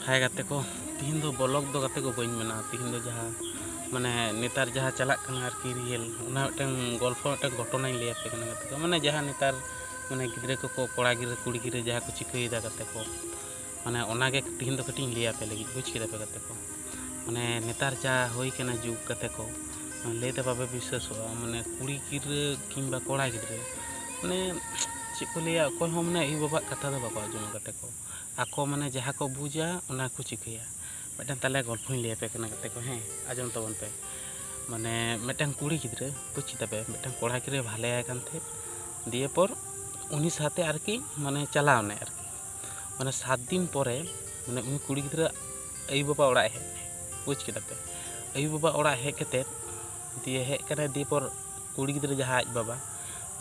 ᱦᱟᱭ ᱜᱟᱛᱮ ᱠᱚ ᱛᱤᱦᱤᱧ ᱫᱚ ᱵᱚᱞᱚᱠ ᱫᱚ ᱜᱟᱛᱮ ᱠᱚ ᱵᱟᱹᱧ ᱢᱮᱱᱟ ᱛᱤᱦᱤᱧ ᱫᱚ ᱡᱟᱦᱟᱸ ᱢᱟᱱᱮ ᱱᱮᱛᱟᱨ ᱡᱟᱦᱟᱸ ᱪᱟᱞᱟᱜ ᱠᱟᱱᱟ ᱟᱨᱠᱤ ᱨᱤᱭᱮᱞ ᱚᱱᱟ ᱢᱤᱫᱴᱟᱝ ᱜᱚᱞᱯᱷᱚ ᱢᱤᱫᱴᱟᱝ ᱜᱷᱚᱴᱚᱱᱟᱧ ᱞᱟᱹᱭ ᱟᱯᱮ ᱠᱟᱱᱟ ᱜᱟᱛᱮ ᱠᱚ ᱢᱟᱱᱮ ᱡᱟᱦᱟᱸ ᱱᱮᱛᱟᱨ ᱢᱟᱱᱮ ᱜᱤᱫᱽᱨᱟᱹ ᱠᱚᱠᱚ ᱠᱚᱲᱟ ᱜᱤᱫᱽᱨᱟᱹ ᱠᱩᱲᱤ ᱜᱤᱫᱽᱨᱟᱹ ᱡᱟᱦᱟᱸ ᱠᱚ ᱪᱤᱠᱟᱹᱭᱮᱫᱟ ᱜᱟᱛᱮ ᱠᱚ ᱢᱟᱱᱮ ᱚᱱᱟᱜᱮ ᱛᱤᱦᱤᱧ ᱫᱚ ᱠᱟᱹᱴᱤᱡ ᱤᱧ ᱞᱟᱹᱭ ᱟᱯᱮ ᱞᱟᱹᱜᱤᱫ ᱵᱩᱡᱽ ᱠᱮᱫᱟ ᱯᱮ ᱜᱟᱛᱮ ᱠᱚ ᱢᱟᱱᱮ ᱱᱮᱛᱟᱨ ᱡᱟ ᱦᱩᱭ ᱠᱟᱱᱟ ᱡᱩᱜᱽ ᱜᱟᱛᱮ ᱠᱚ ᱞᱟᱹᱭ ᱛᱮ ᱵᱟᱯᱮ ᱵᱤᱥᱥᱟᱹᱥᱚᱜᱼᱟ ᱢᱟᱱᱮ ᱠᱩᱲᱤ ᱜᱤᱫᱽᱨᱟᱹ ᱠᱤᱝᱵᱟ ᱠᱚᱲᱟ ᱜᱤᱫᱽᱨᱟᱹ ᱢᱟᱱᱮ ᱪᱮᱫ ᱠᱚ ᱞᱟᱹᱭᱟ ᱚᱠᱚᱭ ᱦᱚᱸ ᱢᱟᱱᱮ ᱟᱭᱳ ᱵᱟᱵᱟᱣᱟᱜ ᱠᱟᱛᱷᱟ ᱫᱚ ᱵᱟᱠᱚ ᱟᱸᱡᱚᱢᱟ ᱜᱟᱛᱮ ᱠᱚ ᱟᱠᱚ ᱢᱟᱱᱮ ᱡᱟᱦᱟᱸ ᱠᱚ ᱵᱩᱡᱟ ᱚᱱᱟ ᱠᱚ ᱪᱤᱠᱟᱹᱭᱟ ᱢᱤᱫᱴᱟᱝ ᱛᱟᱦᱚᱞᱮ ᱜᱚᱞᱯᱷᱚᱧ ᱞᱟᱹᱭ ᱟᱯᱮ ᱠᱟᱱᱟ ᱜᱟᱛᱮ ᱠᱚ ᱦᱮᱸ ᱟᱸᱡᱚᱢ ᱛᱟᱵᱚᱱ ᱯᱮ ᱢᱟᱱᱮ ᱢᱤᱫᱴᱟᱝ ᱠᱩᱲᱤ ᱜᱤᱫᱽᱨᱟᱹ ᱵᱩᱡᱽ ᱠᱮᱫᱟ ᱯᱮ ᱢᱤᱫᱴᱟᱝ ᱠᱚᱲᱟ ᱜᱤᱫᱽᱨᱟᱹ ᱵᱷᱟᱞᱮᱭᱟᱭ ᱠᱟᱱ ᱛᱟᱦᱮᱸᱫ ᱫᱤᱭᱮ ᱯᱚᱨ ᱩᱱᱤ ᱥᱟᱶᱛᱮ ᱟᱨᱠᱤ ᱢᱟᱱᱮ ᱪᱟᱞᱟᱣ ᱮᱱᱟᱭ ᱟᱨᱠᱤ ᱢᱟᱱᱮ ᱥᱟᱛ ᱫᱤᱱ ᱯᱚᱨᱮ ᱢᱟᱱᱮ ᱩᱱᱤ ᱠᱩᱲᱤ ᱜᱤᱫᱽᱨᱟᱹ ᱟᱭᱳ ᱵᱟᱵᱟ ᱚᱲᱟᱜ ᱦᱮᱡ ᱮᱱᱟᱭ ᱵᱩᱡᱽ ᱠᱮᱫᱟ ᱯᱮ ᱟᱭᱳ ᱵᱟᱵᱟ ᱚᱲᱟᱜ ᱦᱮᱡ ᱠᱟᱛᱮᱫ ᱫᱤᱭᱮ ᱦᱮᱡ ᱠᱟᱱᱟᱭ ᱫᱤᱭᱮ ᱯᱚᱨ ᱠᱩᱲᱤ ᱜᱤᱫᱽᱨᱟᱹ ᱡᱟᱦᱟᱸ ᱟᱡ ᱵᱟᱵᱟ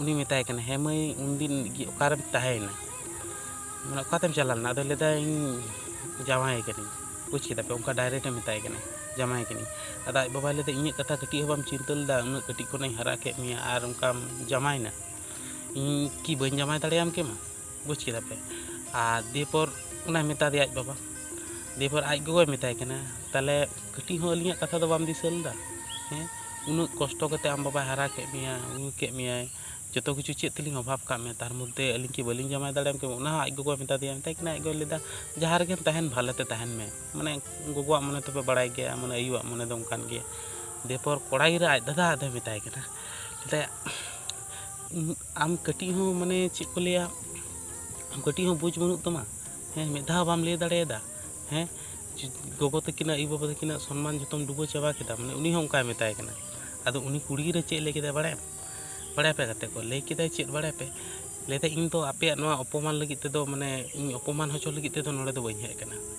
ᱩᱱᱤ ᱢᱮᱛᱟᱭ ᱠᱟᱱᱟ ᱦᱮᱸ ᱢᱟᱹᱭ ᱩᱱᱫᱤᱱ ᱚᱠᱟᱨᱮᱢ ᱛᱟᱦᱮᱸᱭᱮᱱᱟ ᱢᱟᱱᱮ ᱚᱠᱟᱛᱮᱢ ᱪᱟᱞᱟᱣ ᱞᱮᱱᱟ ᱟᱫᱚᱭ ᱞᱟᱹᱭᱫᱟ ᱤᱧ ᱡᱟᱶᱟᱭᱮ ᱠᱟᱹᱱᱟᱹᱧ ᱵᱩᱡᱽ ᱠᱮᱫᱟ ᱯᱮ ᱚᱱᱠᱟ ᱰᱟᱭᱨᱮᱠᱴ ᱮ ᱢᱮᱛᱟᱭ ᱠᱟᱱᱟ ᱡᱟᱶᱟᱭᱮ ᱠᱟᱹᱱᱟᱹᱧ ᱟᱫᱚ ᱟᱡ ᱵᱟᱵᱟᱭ ᱞᱟᱹᱭᱫᱟ ᱤᱧᱟᱹᱜ ᱠᱟᱛᱷᱟ ᱠᱟᱹᱴᱤᱡ ᱦᱚᱸ ᱵᱟᱢ ᱪᱤᱱᱛᱟᱹ ᱞᱮᱫᱟ ᱩᱱᱟᱹᱜ ᱠᱟᱹᱴᱤᱡ ᱠᱷᱚᱱᱤᱧ ᱦᱟᱨᱟ ᱠᱮᱫ ᱢᱮᱭᱟ ᱟᱨ ᱚᱱᱠᱟᱢ ᱡᱟᱶᱟᱭᱮᱱᱟ ᱤᱧ ᱠᱤ ᱵᱟᱹᱧ ᱡᱟᱶᱟᱭ ᱫᱟᱲᱮᱭᱟᱢ ᱠᱮᱢᱟ ᱵᱩᱡᱽ ᱠᱮᱫᱟ ᱯᱮ ᱟᱨ ᱫᱤᱭᱮᱯᱚᱨ ᱚᱱᱟᱭ ᱢᱮᱛᱟ ᱫᱮᱭᱟ ᱟᱡ ᱵᱟᱵᱟ ᱫᱤᱭᱮᱯᱚᱨ ᱟᱡ ᱜᱚᱜᱚᱭ ᱢᱮᱛᱟᱭ ᱠᱟᱱᱟ ᱛᱟᱦᱚᱞᱮ ᱠᱟᱹᱴᱤᱡ ᱦᱚᱸ ᱟᱹᱞᱤᱧᱟᱜ ᱠᱟᱛᱷᱟ ᱫᱚ ᱵᱟᱢ ᱫᱤᱥᱟᱹ ᱞᱮᱫᱟ ᱦᱮᱸ ᱩᱱᱟᱹᱜ ᱠᱚᱥᱴᱚ ᱠᱟᱛᱮ ᱟᱢ ᱵᱟᱵᱟᱭ ᱦᱟᱨᱟ ᱠᱮᱫ ᱢᱮᱭᱟ ᱟᱹᱜᱩ ᱠᱮᱫ ᱢᱮᱭᱟᱭ ᱡᱚᱛᱚ ᱠᱤᱪᱷᱩ ᱪᱮᱫ ᱛᱮᱞᱤᱧ ᱚᱵᱷᱟᱵᱽ ᱠᱟᱜ ᱢᱮᱭᱟ ᱛᱟᱨ ᱢᱚᱫᱽᱫᱷᱮ ᱟᱹᱞᱤᱧ ᱠᱤ ᱵᱟᱹᱞᱤᱧ ᱡᱟᱶᱟᱭ ᱫᱟᱲᱮᱭᱟᱢ ᱠᱮᱭᱟ ᱚᱱᱟ ᱦᱚᱸ ᱟᱡ ᱜᱚᱜᱚᱭ ᱢᱮᱛᱟ ᱫᱮᱭᱟ ᱢᱮᱛᱟᱭ ᱠᱟᱱᱟ ᱟᱡ ᱜᱚᱭ ᱞᱟᱹᱭᱫᱟ ᱡᱟᱦᱟᱸ ᱨᱮᱜᱮᱢ ᱛᱟᱦᱮᱱ ᱵᱷᱟᱞᱮ ᱛᱮ ᱛᱟᱦᱮᱱ ᱢᱮ ᱢᱟᱱᱮ ᱜᱚᱜᱚᱣᱟᱜ ᱢᱚᱱᱮ ᱛᱚᱯᱮ ᱵᱟᱲᱟᱭ ᱜᱮᱭᱟ ᱢᱟᱱᱮ ᱟᱭᱩᱣᱟᱜ ᱢᱚᱱᱮ ᱫᱚ ᱚᱱᱠᱟᱱ ᱜᱮᱭᱟ ᱫᱤᱭᱮᱯᱚᱨ ᱠᱚᱲᱟ ᱜᱤᱫᱽᱨᱟᱹ ᱟᱡ ᱫᱟᱫᱟ ᱟᱫᱚᱭ ᱢᱮᱛᱟᱭ ᱠᱟᱱᱟ ᱢᱮᱛᱟᱭᱟ ᱟᱢ ᱠᱟᱹᱴᱤᱡ ᱦᱚᱸ ᱢᱟᱱᱮ ᱪᱮᱫ ᱠᱚ ᱞᱟᱹᱭᱟ ᱟᱢ ᱠᱟᱹᱴᱤᱡ ᱦᱚᱸ ᱵᱩᱡᱽ ᱵᱟᱹᱱᱩᱜ ᱛᱟᱢᱟ ᱦᱮᱸ ᱢᱤᱫ ᱫᱷᱟᱣ ᱵᱟᱢ ᱞᱟᱹᱭ ᱫᱟᱲᱮᱭᱟᱫᱟ ᱦᱮᱸ ᱜᱚᱜᱚ ᱛᱟᱹᱠᱤᱱᱟᱜ ᱟᱭᱳ ᱵᱟᱵᱟ ᱛᱟᱹᱠᱤᱱᱟᱜ ᱥᱚᱱᱢᱟᱱ ᱡᱚᱛᱚᱢ ᱰᱩᱵᱟᱹ ᱪᱟᱵᱟ ᱠᱮᱫᱟ ᱢᱟᱱᱮ ᱩᱱᱤ ᱦᱚᱸ ᱚᱱᱠᱟᱭ ᱢᱮᱛᱟᱭ ᱠᱟᱱᱟ ᱟᱫᱚ ᱩᱱᱤ ᱠᱩᱲᱤ ᱜᱤᱫᱽᱨᱟᱹ ᱪᱮᱫ ᱞᱟᱹᱭ ᱠᱮᱫᱟᱭ ᱵᱟᱲᱟᱭᱟᱢ ᱵᱟᱲᱟᱭ ᱯᱮ ᱜᱟᱛᱮ ᱠᱚ ᱞᱟᱹᱭ ᱠᱮᱫᱟᱭ ᱪᱮᱫ ᱵᱟᱲᱟᱭ ᱯᱮ ᱞᱟᱹᱭ ᱫᱟᱭ ᱤᱧ ᱫᱚ ᱟᱯᱮᱭᱟᱜ ᱱᱚᱣᱟ ᱚᱯᱚᱢᱟᱱ ᱞᱟᱹᱜᱤᱫ ᱛᱮᱫᱚ ᱢᱟᱱᱮ ᱤᱧ ᱚᱯᱚᱢᱟᱱ ᱦᱚᱪᱚ ᱞᱟᱹᱜᱤᱫ ᱛᱮᱫᱚ ᱱᱚᱰᱮ ᱫᱚ ᱵᱟᱹᱧ ᱦᱮᱡ ᱟᱠᱟᱱᱟ